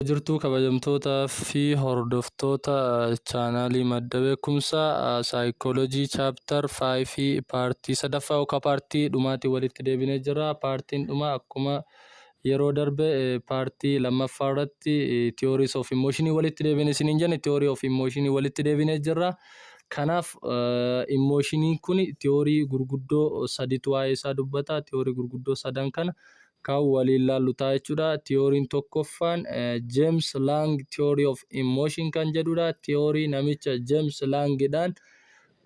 jirtuu kabajamtootaa fi hordoftoota chaanaalii madda beekumsaa saayikoolojii chaaptar 5 fi paartii sadaffaa yookaan paartii dhumaatiin walitti deebinee jira. Paartiin dhumaa akkuma Yeroo darbe part lammaffaa irratti theories of emotion walitti deebine isiniin jenne theory of emotion walitti deebinee jirra. Kanaaf emotioniin kun theory gurguddoo saditu waa'ee isaa dubbata. Theory gurguddoo sadan kana kan waliin laallu ta'a jechuudha. Theory'n tokkoffaan James Lang theory of emotion kan jedhudha. Theory namicha James Lang dhaan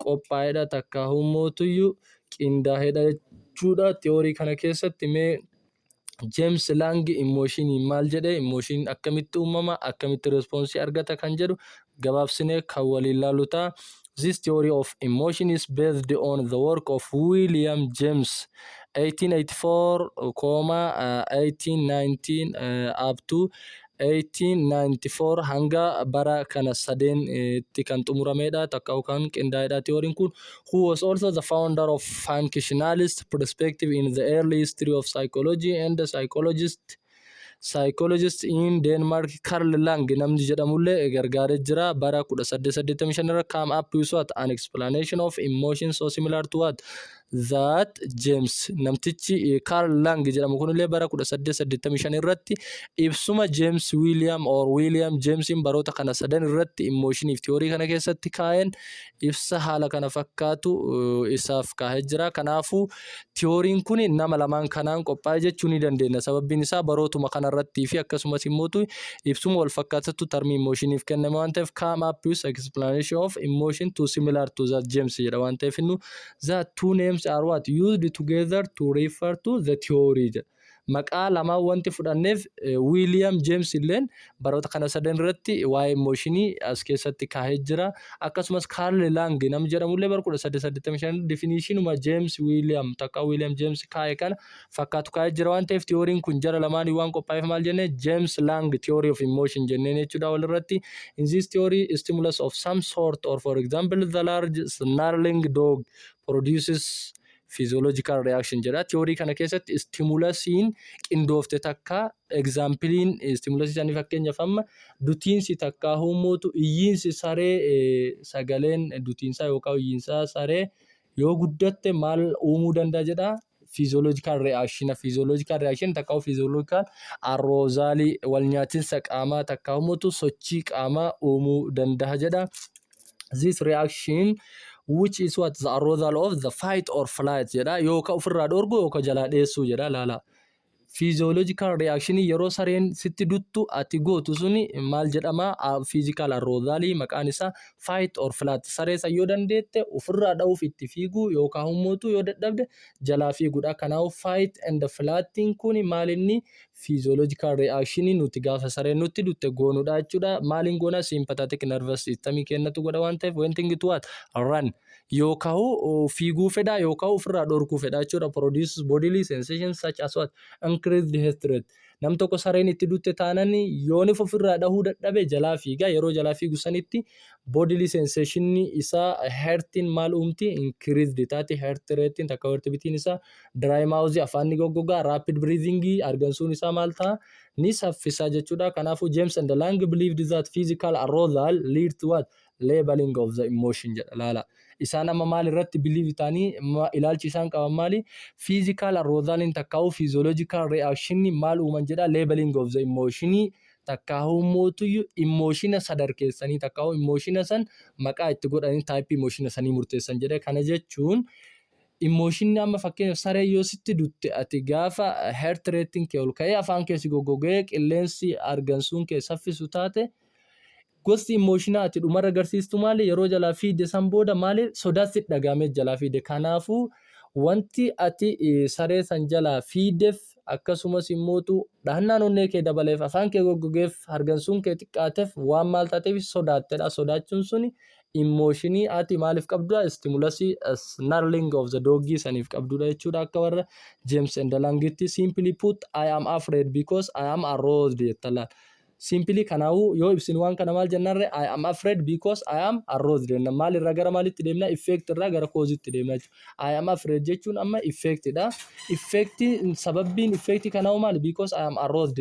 qophaa'edha takkaa hummootuyyu qindaa'edha jechuudha. Theory kana keessatti mee James Lang immooshiiniin maal jedhe immooshiiniin akkamitti uumama akkamitti respoonsii argata kan jedhu gabaabsinee kan waliin laalu ta'a. This theory of emotion is based on the work of William James 1884 comma 1819 uh, up to 1894 hanga bara kana sadeen tti kan xumurameedha takka kan qindaa'eedha theory kun who was also the founder of functionalist perspective in the early history of psychology and the psychologist psychologist in Denmark Carl Lang namni jedhamullee gargaaree jira bara 1885 irra come up with what an explanation of emotion so similar to what Zaat Jeems namtichi Kaarl Lang jedhamu kunillee bara 1885 irratti ibsuma Jeems Wiiliyaam or Wiiliyaam Jeemsiin baroota kana sadan irratti immooshinii fi tiyoorii kana keessatti kaa'een ibsa haala kana fakkaatu isaaf kaa'ee jira. Kanaafuu tiyooriin kun nama lamaan kanaan qophaa'e jechuu ni dandeenya. Sababbiin isaa barootuma kana irratti fi akkasumas immoo ibsuma wal fakkaatatu tarmii immooshiiniif kenname waan ta'eef come up with explanation of emotion too similar to that Jeems jedha waan ta'eef The two names are what used together to refer to the theory jedha. Maqaa lamaan wanti fudhanneef Wiiliyaam Jeems illeen baroota kana sadan irratti waa'ee mooshinii as keessatti kaahee jira. Akkasumas Kaarl Laang nam jedhamu illee bara 1885 definitionuma Jeems Wiiliyaam takka Wiiliyaam Jeems kaa'e kana fakkaatu kaa'ee jira waan ta'eef tiyooriin kun jara lamaanii waan qophaa'eef maal jenne James Lang theory of emotion jenneen jechuudha walirratti. In this theory stimulus of some sort or for example the large snarling dog produces physiological reaction jedha. Tiyoorii kana keessatti stimulasiin qindoofte takka egzaampiliin stimulasii isaanii fakkeenyaaf amma dutiinsi takka huumootu iyyiinsi saree sagaleen dutiinsaa yookaan iyyiinsaa saree yoo guddatte maal uumuu danda'a jedha Fiizooloojikaal Ri'aakshiina Fiizooloojikaal Ri'aakshiin takka fiizooloojikaal arroozaalii wal nyaatinsa qaamaa takka humutu sochii qaamaa uumuu danda'a jedha. This reaction which is what the arousal of the fight or flight jedha yookaan ofirraa dhorgu yookaan jalaa dheessuu jedha laala. Physiological reaction yeroo sareen sitti duttu ati gootu suni maal jedhama physical arousal maqaan isaa fight or flight saree san yoo dandeette ofirraa dha'uuf itti fiiguu yookaan hummuutu yoo dadhabde jalaa fiigudha kanaaf fight and flightiin kun maal inni physiological reaction nuti gaafa sareen nutti dutte goonudha jechuudha maaliin goona sympathetic nervous system kennatu godha waan ta'eef when thing to what run yookahu fiiguu fedha yookahu ofirraa dhorkuu fedha jechuudha produces bodily sensations such as what increased heart rate nam tokko sareen itti dutte taanan yoonif ofirraa dhahuu dadhabe jalaa fiiga yeroo jalaa fiigu sanitti bodily sensation isaa heartiin maal uumti increased taati heart ratein takka heart bitiin isaa dry mouth afaan ni goggogaa rapid breathing argansuun isaa maal ta'a ni saffisaa jechuudha kanaafuu James and Lang believed that physical arousal lead to what Leveling of the emotion jedha laala. Isaan amma maal irratti believe ta'anii ma- ilaalchi isaan qaban maali? Physical arousaliin takkaa'uu physiological reaction maal uuman jedha leveling of the emotion takkaa'uu mootuyyuu emotiona sadarkeessanii takkaa'uu emotiona san maqaa itti godhanii type emotiona sanii murteessan jedha. Kana jechuun emotionni amma fakkeenyaaf saree yoo sitti dutte ati gaafa heart rate'n kee ol ka'ee afaan kee si goggogee qilleensi argansuun kee saffisu taate Gosti immooshinaa ati dhumarra garsiistu maali? Yeroo jalaa fiigde san booda maali sodaa sitti dhaga'amee jalaa fiigde? Kanaafuu wanti ati saree san jalaa fiigdeef akkasumas immootu dhahannaan onnee kee dabaleef afaan kee goggogeef hargansuun kee xiqqaateef waan maal taateef sodaattedha. Sodaachuun suni immooshinii ati maaliif qabdudha? Istimulasii snarling of the dog saniif qabdudha jechuudha akka warra James and Langitti. Simply put, I am afraid because I am aroused jettallaan. Simply kanaafuu yoo ibsinu waan kana maal jennaan ree? I am afraid because I am arrows jenna. Maal irraa gara maalitti deemna? Effect irraa gara cause itti deemna jechuudha. I am afraid jechuun amma effect dha. Effect sababbiin effect kanaafuu maali? Because I am arrows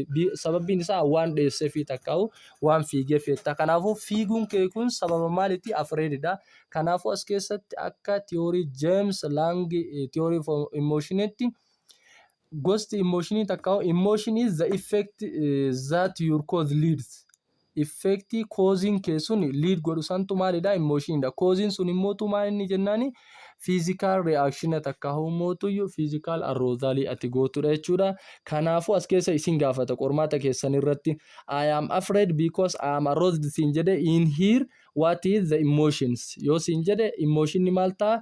sababbiin isaa waan dheessee fi takkaa'u waan fiigee feetta. Kanaafuu fiiguun kee kun sababa maaliiti? Afraid dha. Kanaafuu as keessatti akka theory James Lang theory of emotionetti Gosti immooshinii takka hoo immooshin is the effect eh, that your cause leads. Effectii kooziin kee sun lead godhu santu maalidha immooshinidha. Kooziin sun immoo tumaa inni jennaani fiizikaal reaakshina takka hoo mootuyyuu fiizikaal arroozaalii ati gootudha jechuudha. Kanaafuu as keessa isin gaafata qormaata keessan irratti I am afraid because I am aroused siin jedhe in here what is the emotions yoo siin jedhe immooshinni maal ta'a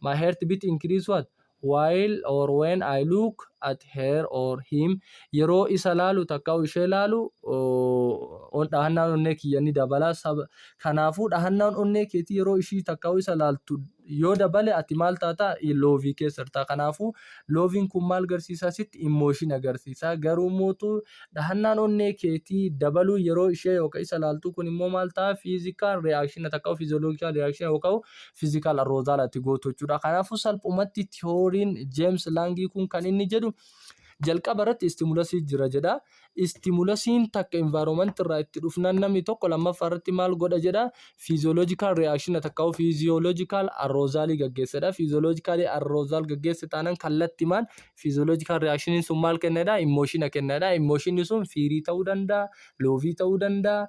My heart beat increase what? While or when I look at her or him yeroo isa laalu takka ishee laalu dhahannaan onnee kiyya ni dabala kanaafuu dhahannaan onnee keetii yeroo ishii takka isa laaltu yoo dabale ati maal taata loovii keessa jirta kanaafuu looviin kun maal garsiisa sitti immooshin agarsiisa garuu mootu dhahannaan onnee keetii dabaluu yeroo ishee yookaan isa laaltu kun immoo maal ta'a fiizikaal reaakshina takka fiizoloogikaal reaakshina yookaan physical arousal ati gootu jechuudha. Kanaafuu salphumatti tiyooriin James Langii kun kan inni jedhu jalqaba irratti istimulasii jira jedha. Istimulasiin takka environment irraa itti dhufnaan namni tokko lammaffaa irratti maal godha jedha. Physiological reaction takka hoo physiological arousal gaggeessedha. Physiological arousal gaggeesse taanaan kallattimaan physiological reaction sun maal kennedha? Emotion kennedha. Emotion sun fiirii ta'uu danda'a, loovii ta'uu danda'a,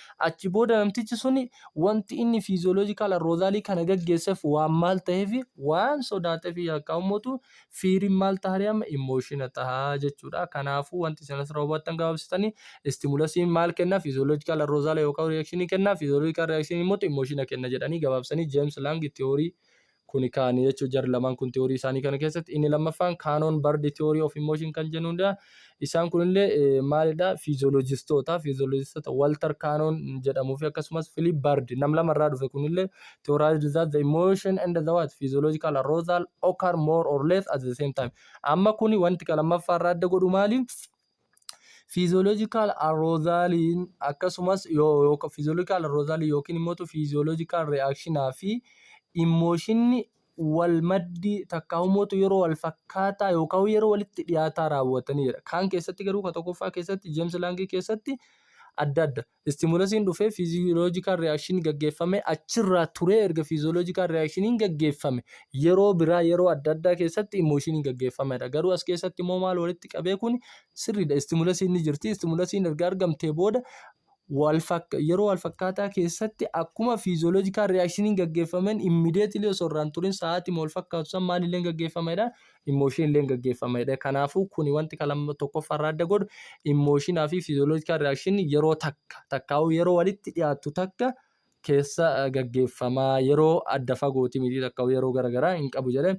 Achi booda namtichi suni wanti inni physiological arousal kana gaggeessef waan maal ta'eef waan sodaateef yakkaa ummatu fiirin maal taha amma emotion taha jechuudha. Kanaafuu wanti isin asirraa hubattan gabaabsitanii stimulasiin maal kenna physiological arousal yookaan reaction kenna physiological reaction immoo emotion kenna jedhanii gabaabsanii James Lang theory kuni kaani jechuudha jarri lamaan kun tiyoorii isaanii kana keessatti inni lammaffaan kaanoon bardi tiyoorii of immooshin kan jennuudha isaan kunillee maalidha fiizooloojistoota fiizooloojistoota waltar kaanoon jedhamuu fi akkasumas filiip bardi nam lama irraa dhufe kunillee tiyooraayizd zaat the emotion and the what physiological arousal occur more or less at the same time amma kuni wanti kan lammaffaa irraa adda godhu maali Fiiziyooloojikaal aroozaaliin akkasumas fiiziyooloojikaal aroozaalii yookiin immoo fiiziyooloojikaal ri'aakshinaa fi immooshinni wal maddi takkaa immoo yeroo wal fakkaataa yookaan yeroo walitti dhiyaataa raawwatanii dha. Kaan keessatti garuu ka tokkoffaa keessatti Jeemsi Laangii keessatti adda adda. Istimulasiin dhufee fiiziyoloojikaal riyaakshini gaggeeffamee achirraa turee erga fiiziyoloojikaal riyaakshiniin gaggeeffame yeroo biraa yeroo adda addaa keessatti imooshiniin gaggeeffamedha. Garuu as keessatti immoo maal walitti qabee kun sirriidha. Istimulasiin ni jirti. Istimulasiin erga argamtee booda yeroo wal fakkaataa keessatti akkuma fiiziyoloojikaal riyaakshiniin gaggeeffameen immideetilii osoo irraan turin sa'aatii wal fakkaatu san maalillee gaggeeffamedha. immooshin illee gaggeeffama jedha. Kanaafuu kuni wanti kalama tokkoffaa irraa adda godhu immooshinaa fi fiiziyooloojikaa riyaakshin yeroo takka takkaa'uu yeroo walitti dhiyaattu takka keessa gaggeeffama yeroo adda fagooti miti takkaa'uu yeroo garagaraa hin qabu jedhe.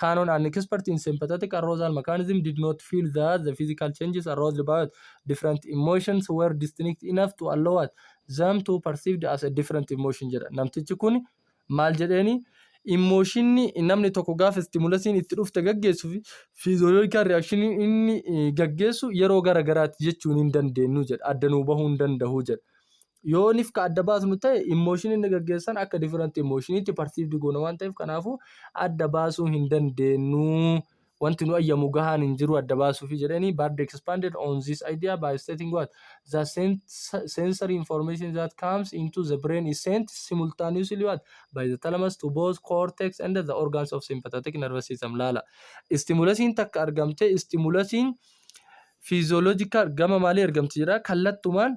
Canon an expert in sympathetic arousal mechanism did not feel that the physical changes aroused by different emotions were distinct enough to allow them to perceived as a different emotion jedha. Namtichi kun Maal jedheeni immooshinni namni tokko gaafa istimulasiin itti dhufte gaggeessu fi fiizooloojikaal riyaakshiniin inni gaggeessu yeroo gara garaatti jechuun hin dandeenyu jedha. Adda nuu bahuu hin danda'u jedha. Yoo nif ka adda baasnu ta'e immooshinii inni gaggeessan akka difiranti immooshinii itti parsiivdi goona waan ta'eef kanaafuu adda baasuu hin dandeenyu wanti nu ayyamu gahaan hin jiru adda baasuufi jedhani Bard expanded on this idea by stating what the sensory information that comes into the brain is sent simultaneously what by the thalamus to both cortex and the organs of sympathetic nervous system laala istimulasiin takka argamte istimulasiin physiological gama maalii argamti jedha kallattumaan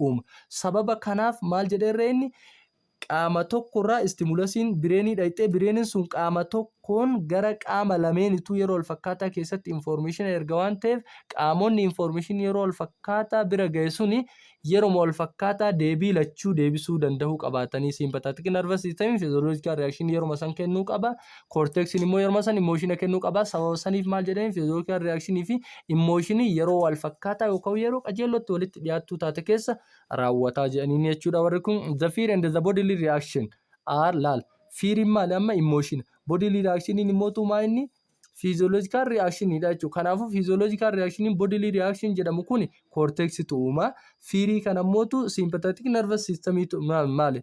uuma. Sababa kanaaf maal jedhee irra inni qaama tokko irraa istimulasiin bireenii dhayxee bireeniin sun qaama tokkoon gara qaama lameenituu yeroo walfakkaataa keessatti infoormeeshina erga waan ta'eef qaamonni infoormeeshin yeroo walfakkaataa bira ga'e suni yeroma walfakkaataa deebii lachuu deebisuu danda'uu qabaatanii siimpataatikii narvas sistemii fiizooloojikaal riyaakshinii yeroma san kennuu qaba Koorteeksiin immoo yeroo san immooshiina kennuu qaba. Sababa saniif maal jedheen fiizookiyaan riyaakshini fi immooshinii yeroo wal fakkaataa yookaan yeroo qajeellootti walitti dhiyaattuu taate keessa raawwataa jedhaniin jechuudha warri kun. The fear and the bodily reaction are laal. Fiiriin maali amma immooshiina. Bodily reactioniin immoo tuumaa inni fiizooloojikaal riyaakshiniidha jechuudha. Kanaafuu fiizooloojikaal riyaakshiniin bodily reaction jedhamu kun koorteeksitu uuma. Fiirii kana immoo tu siimpataatik narvas siistamii maali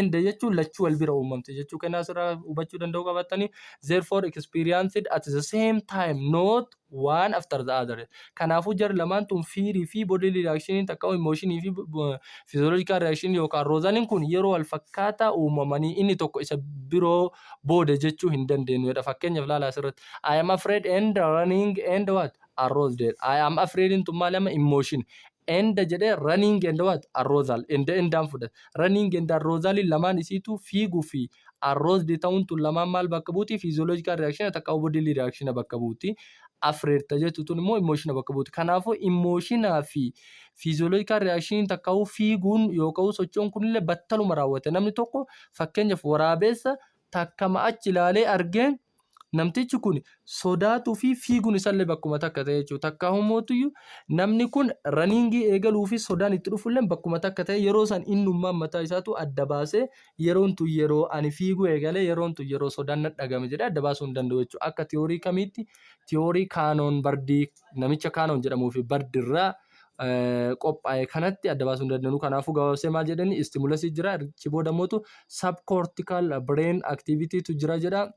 and jechuun lachuu wal bira uumamte jechuu kennaa asirraa hubachuu danda'uu qabattanii therefore experienced at the same time not one after the other kanaafuu jar lamaan tun fiirii fi bodily reaction takka emotion fi physiological reaction yookaan roozaniin kun yeroo wal fakkaataa uumamanii inni tokko isa biroo booda jechuu hin dandeenyudha fakkeenyaaf laala asirratti I am afraid and running and what arrows dead I am afraid tun maal amma emotion Enda jedhee running and what? Arrozal. Enda endaan fudhata. Running and arrozalin lamaan isiituu fiiguu fi arrozed ta'uun tun lamaan maal bakka buuti? Physiological reaction takka bodily reaction bakka buuti. Afraid ta jettu tun immoo emotion bakka buuti. Kanaafuu emotion fi physiological reaction takka fiiguun yookaan sochoon kunillee battaluma raawwata. Namni tokko fakkeenyaaf waraabeessa takkama achi ilaalee argeen Namtichi kun sodaatuu fi fiiguun isallee bakkuma takka ta'e jechuudha. Takkaa humootuyyuu namni kun raniingii eegaluu fi sodaan itti dhufullee bakkuma takka ta'e yeroo san innummaan mataa isaatu adda baasee yeroon tun yeroo ani fiiguu eegalee yeroon tun yeroo sodaan nadhagame jedhee adda baasuu hin danda'u jechuudha. Akka tiyoorii kamiitti tiyoorii kaanoon bardii namicha Kaanon jedhamuu fi Bard irraa qophaa'e kanatti adda baasuu hin dandeenyu. Kanaafuu gabaabsee maal jedhani istimulasii jira achi booda mootu subcortical brain activity tu jira jedha.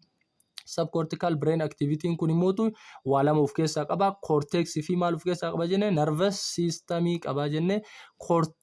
Subcortical brain activity kun immootu waa lama of keessaa qaba. Cortex fi maal of keessaa qaba jenne nervous system qaba jenne cortex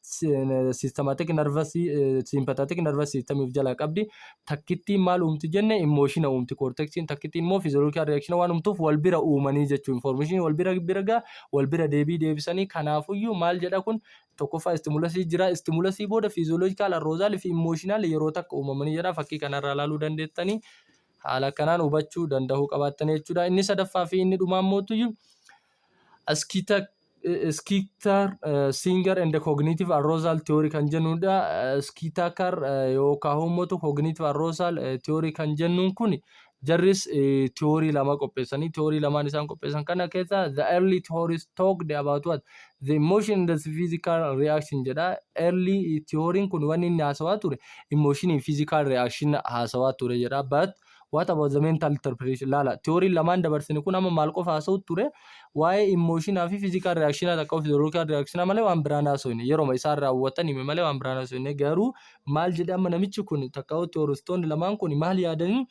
systematic nervous eh, sympathetic nervous system of jalaa qabdi takkittiin maal uumti jenne emotion uumti cortexiin takkittiin immoo physiological reaction waan uumtuuf wal bira uumanii jechuu information wal bira birga wal bira deebii deebisanii kanaafuyyuu maal jedha kun tokkoffaa stimulasii jira stimulasii booda physiological arousal fi emotional yeroo takka uumamanii jedha fakkii kanarraa ilaaluu dandeettanii haala kanaan hubachuu danda'uu qabaattan jechuudha inni sadaffaa fi inni dhumaan mootuyyuu askita Skitar, Singer and Cognitive Arousal Theory kan jennudha. Skitakar yookaan uummatu Cognitive Arousal Theory kan jennuun kun jarris theory lama qopheessanii theory lamaan isaan qopheessan kana keessa the early theories talked about what the emotion and the physical reaction jedha. Early theory kun wanni inni haasawaa ture emotion physical reaction haasawaa ture jedha. But What about the mental interpretation? Laala, tiyooriin lamaan dabarsine kun amma maal qofa haasa'uutti ture? Waa'ee immooshinaa fi fiizikaal riyaakshina takka of fiziyoolookaal riyaakshina malee waan biraan haasofne. Yeroma isaan raawwatan hime malee waan biraan haasofne. Garuu maal jedhe amma namichi kun takka hoo tiyooristoonni lamaan kun maal yaadanii?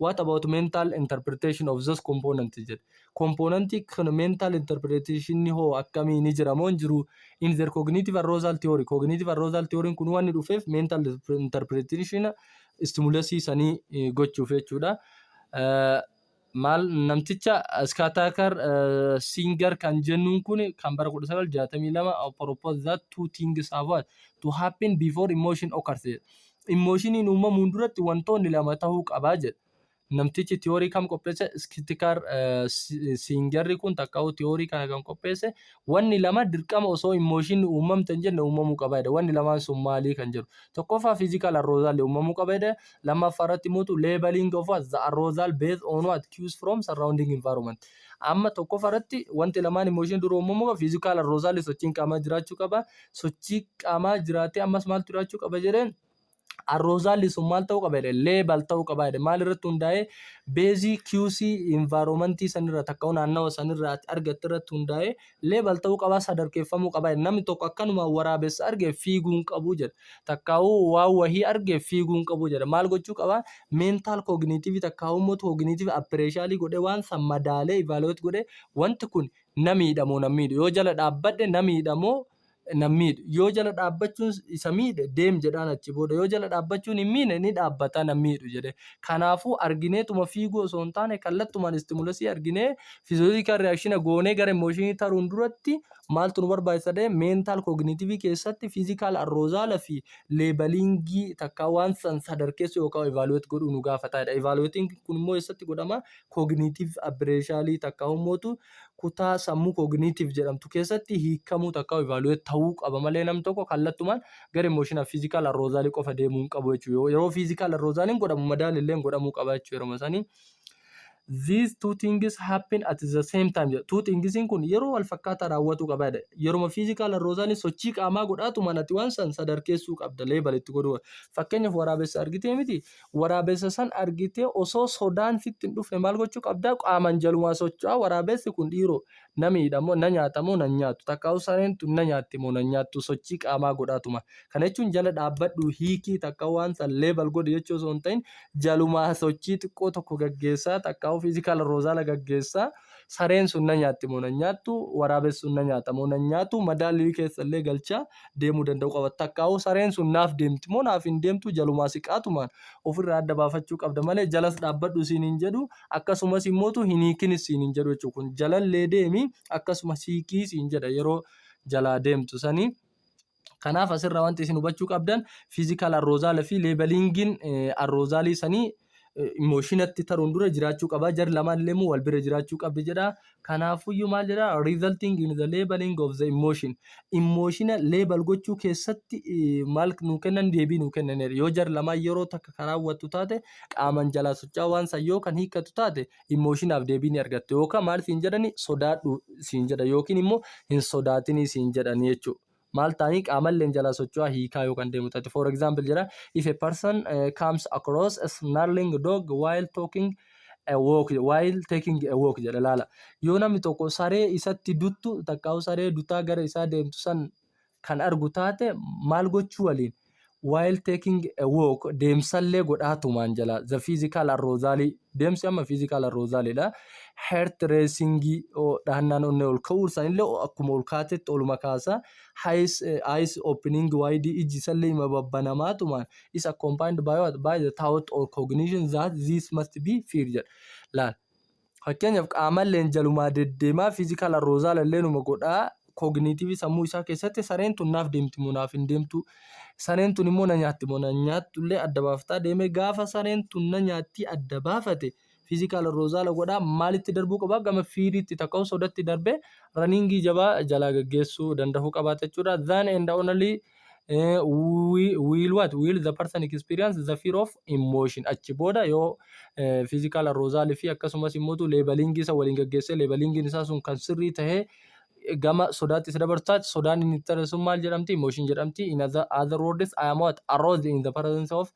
What about mental interpretation of those components jedhe. Kompoonantii kan mental interpretation hoo akkamii ni jira moo hin jiru? In their cognitive arousal theory. Cognitive arousal theory kun waan inni dhufeef mental interpretation istimulasii sanii gochuuf jechuudha. Maal namticha Skatakar Singer kan jennuun kun kan bara 1962 proposed that two things have what to happen before emotion occurs. Immoshiniin uumamuun duratti wantoonni lama ta'uu qabaa jedha. Namtichi tiyoorii kam qopheesse? Iskitikaar siinjarri kun takkaawu tiyoorii kana kan qopheesse wanni lama dirqama osoo immooshinni uumamte hin jenne uumamuu qaba jedha. Wanni lamaan sun maalii kan jedhu. Tokkoffaa fiizikaal arroozaalli uumamuu qaba jedha. Lammaffaa irratti muutu leebaling of what the arroozal based on what cues from surrounding environment. Amma tokkoffaa irratti wanti lamaan immooshinii dura uumamuu qaba. Fiizikaal arroozaalli sochiin qaamaa jiraachuu qaba. Sochii qaamaa jiraatee ammas maaltu jiraachuu qaba jedheen arroozaan liisuun maal ta'uu qaba jedhe leebal ta'uu qaba jedhe maal irratti hundaa'ee beezii QC environmentii sanirra takka'u naannawa sanirra ati argatte irratti hundaa'ee leebal ta'uu qaba sadarkeeffamuu qaba jedhe namni tokko akkanuma waraabessa arge fiiguu hin qabu jedhe takkaa'uu waan wahii arge fiiguu hin qabu jedhe maal gochuu qaba meentaal kooginiitiivii takkaa'uu immoo kooginiitiivii appireeshaalii godhe waan san madaalee ivaaloot godhe wanti kun namiidhamoo namiidhu yoo jala dhaabbadhe namiidhamoo nan miidhu. Yoo jala dhaabbachuun isa miidhe deem jedhaan achi booda. Yoo jala dhaabbachuun hin miine ni dhaabbata nan miidhu jedhe. Kanaafuu argineetuma fiiguu osoo hin taane kallattumaan istimulesii arginee physiological reaction goonee gara emotion taruun duratti maaltu nu barbaachisa ta'e mental cognitive keessatti physical arrozaala fi leebaliingii takkaa waan san sadarkeessuu yookaan evaluate godhuu nu gaafata jedha. Evaluating kun immoo eessatti godhama? Cognitive appraisal takkaa ummootu kutaa sammuu cognitive jedhamtu keessatti hiikamuu takka evaluate ta'uu qaba malee nam tokko kallattumaan gara emotional physical arousal qofa deemuu hin qabu jechuudha. Yeroo physical arousal hin godhamu madaal illee godhamuu qaba jechuudha yeroo sanii. These two things happen at the same time jedha. Two things kun yeroo wal fakkaataa raawwatuu qaba jedha. Yeruma physical arousal sochii qaamaa godhaatu manatti waan san sadarkeessuu qabda leebal itti godhuu. Fakkeenyaaf waraabessa argitee miti Waraabessa san argitee osoo sodaan sitti hin dhufne maal gochuu qabdaa? Qaaman jalumaa socho'aa waraabessi kun dhiiroo na miidha moo na nyaata moo nan nyaatu takkaa'uu sareen tun na nyaatti moo nan nyaattu sochii qaamaa godhaatuma. Kana jechuun jala dhaabbadhu hiikii takka waan san level godhi jechuu osoo hin ta'in jalumaa sochii xiqqoo tokko gaggeessaa takkaa'uu physical arousal gaggeessaa sareen sun na nyaatti moo nan nyaattu waraabessi sun na nyaata moo nan nyaatu madaallii keessa illee galchaa deemuu danda'uu qaba. Takkaahuu sareen sun naaf deemti moo naaf hin deemtu jalumaa siqaatumaan ofirraa adda baafachuu qabda malee jalas dhaabbadhu siin hin jedhu akkasumas immoo tu hin hiikinis siin hin jedhu jechuudha. Kun jalallee deemi akkasumas hiikii siin jedha yeroo jalaa deemtu sanii. Kanaaf asirraa wanti isin hubachuu qabdan fiizikaal arroozaala fi leebaliingiin arroozaalii sanii Mooshinatti taruun dura jiraachuu qaba. Jar lamaan illee immoo wal bira jiraachuu qabdi jedha. Kanaafuyyuu maal jedha? Resulting in the labeling of the emotion. Imooshina leebal gochuu keessatti maal nuu kennan deebii nuu kennaniiru. Yoo jar lamaan yeroo takka kan raawwattu taate qaaman jalaa socho'aa waan san yoo kan hiikkatu taate imooshinaaf deebii ni argatte. Yookaan maal siin jedhani sodaadhu siin jedha yookiin immoo hin sodaatinii siin jedhani jechuudha. maal ta'anii qaamalleen jalaa socho'aa hiikaa yoo kan deemu ta'e for example jedha if a person uh, comes across a snarling dog while talking a walk while taking a walk jedha laala yoo namni tokko saree isatti duttu takkaa'u saree dutaa gara isaa deemtu san kan argu taate maal gochuu waliin while taking a walk deemsallee godhaatumaan jala the physical arousal deemsi amma physical arousal dha heart racing dhahannaan onnee ol ka'uu isaanillee akkuma ol kaatetti oluma kaasa eyes eyes opening wide iji isallee ima babbanamaatumaan is accompanied by what by the thought or cognition that this must be fear jedha laal Fakkeenyaaf qaamalleen jalumaa deddeemaa fiizikaal arroozaal alleenuma godhaa kooginiitiivii sammuu isaa keessatti sareen tun naaf deemti moo naaf hin deemtu sareen tun immoo na nyaatti moo na nyaattu illee adda baaftaa deemee gaafa sareen tun na nyaattii adda baafate fiizikaal arroozaala godhaa maalitti darbuu qabaa gama fiiriitti takka osoo datti darbee raniingii jabaa jalaa gaggeessuu danda'uu qabaata jechuudha. Then and only Eh, wi- will what will the person experience the fear of emotion achi booda yoo eh, physical arousal fi akkasumas immoo leebalingi isa waliin gaggeessee leebalingiin isaa sun kan sirrii ta'ee gama sodaatti isa dabarsaati sodaan inni itti taasisu maal jedhamti emotion jedhamti in other, other words I am what aroused in the presence of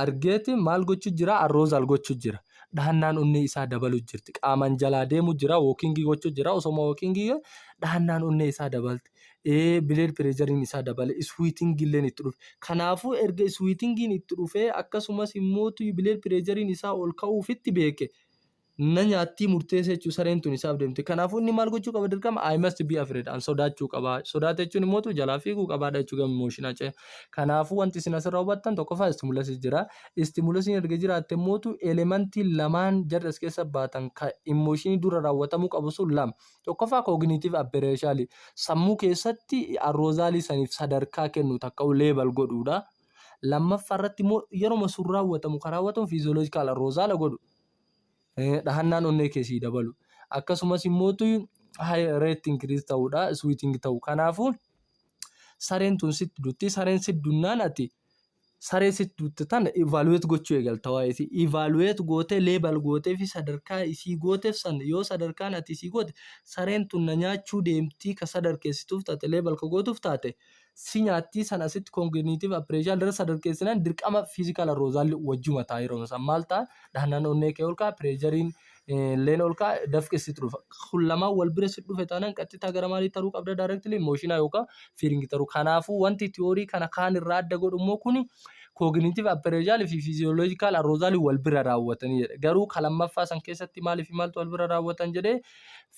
argeeti maal gochuu jira arroozaal gochuu jira dhahannaan onnee isaa dabaluu jirti qaamaan jalaa deemuu jira wookingii gochuu jira osoma wookingii dhahannaan onnee isaa dabalti ee bileed pireejariin isaa dabale iswiitingii illeen itti dhufe kanaafuu erga iswiitingiin itti dhufee akkasumas immootu bileed pireejariin isaa ol ka'uufitti beeke na nyaattii murteessa jechuun sareen tun isaaf deemte. Kanaafuu inni maal gochuu qaba dirqama I must be afraid an sodaachuu qaba. Sodaata jechuun immoo tu jalaa fiiguu qabaadha jechuu gama emooshinaa ce'e. Kanaafuu wanti isin asirraa hubattan tokkoffaa istimulasi jira. Istimulasiin erga jiraatte immoo tu elementii lamaan jarri as keessa baatan ka emooshinii dura raawwatamuu qabu sun lama. Tokkoffaa kooginiitiif abbereeshaalii sammuu keessatti arroozaalii saniif sadarkaa kennu takka'u leebal godhuudha. Lammaffaa irratti immoo yeruma sun raawwatamu ka raawwatamu fiiziyooloojikaal arroozaala godhu. dhahannaan onnee kee sii dabalu akkasumas immoo rate increase ta'uudha switting ta'u kanaafuu sareen tun sitti dutti sareen sitti dunnaan ati saree sitti dutte tana evaluate gochuu eegalta waa'ee isii evaluate gootee leebal gootee fi sadarkaa isii gooteef san yoo sadarkaan ati isii goote sareen tun na nyaachuu deemtii ka sadarkeessituuf taate leebal ka gootuuf taate si nyaattii san asitti congenitive appraisal irra sadarkeessinan dirqama physical arousal wajjuma ta'a yeroo san maal ta'a dhahnaan onnee kee ol ka'a pireejariin leen ol ka'a dafqi sitti dhufa kun lamaan wal bira si dhufe taanaan qaxxitaa gara maalii taruu qabda directly mooshinaa yookaan feeling taruu kanaafuu wanti tiyoorii kana kaan irraa adda godhu immoo kuni cognitive appraisal fi physiological arousal wal bira raawwatanii jedha garuu ka lammaffaa san keessatti maaliif maaltu wal bira raawwatan jedhee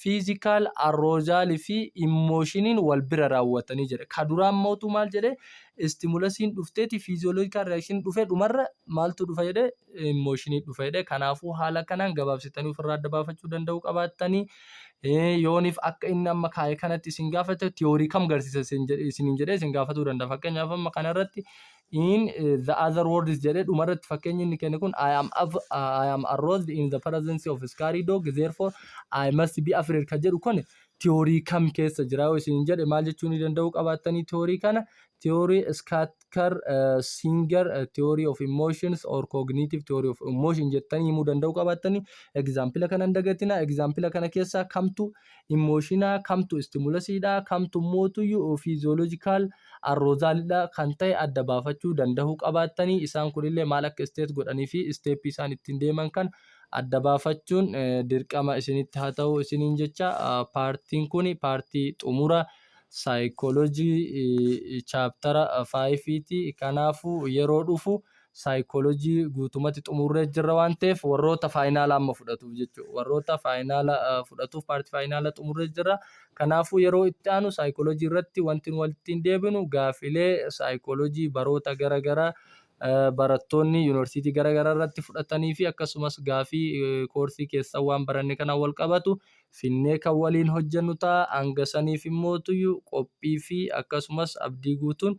Physical, arousal fi emotionin wal bira raawwatanii jedha. Ka duraa mootu maal jedhe stimulasiin dhufteeti physiological reaction dhufe dhumarra maaltu dhufa jedhe emotionii dhufa jedhe. Kanaafuu haala kanaan gabaabsitanii ofirraa adda baafachuu danda'uu qabaattanii yooniif akka inni amma kaa'e kanatti isin gaafate tiyoorii kam garsiisa isin jedhe isin jedhe isin gaafatuu danda'a. Fakkeenyaaf amma kanarratti in the other words jedhee dhumarratti fakkeenya inni kenne kun I am, av- I am aroused in the presence of scary dog therefore I must be afraid kan jedhu kun tiyoorii kam keessa jira yoo isin jedhe maal jechuu ni danda'u qabaattanii tiyoorii kana tiyoorii Skatkar Singer tiyoorii of emotions or cognitive theory of emotion jettanii himuu danda'u qabaattanii egzaampila kana hin dagatina egzaampila kana keessaa kamtu immooshinaa kamtu istimulasiidha kamtu mootuyyuu fiiziyoolojikaal uh, Arrozaaldha kan ta'e adda baafachuu dandahuu qabaattanii isaan kunillee maal akka state godhanii fi step isaan ittiin deeman kan adda baafachuun dirqama isinitti haa ta'u isiniin jecha paartiin kuni paartii xumura saayikoolojii chaaptara faayifiiti kanaafuu yeroo dhufu saayikoolojii guutumatti xumurree jirra waan ta'eef warroota faayinaala amma fudhatuuf jechuudha. Warroota faayinaala fudhatuuf paartii faayinaala xumurree jirra. Kanaafuu yeroo itti aanu saayikoolojii irratti wanti nu walitti hin deebinu gaafilee saayikoolojii baroota gara garaa barattoonni yuunivarsiitii gara garaa irratti fudhatanii fi akkasumas gaafii koorsii keessaa waan baranne kanaan wal qabatu finnee kan waliin hojjennu ta'a. Hanga saniif immoo qophii fi akkasumas abdii guutuun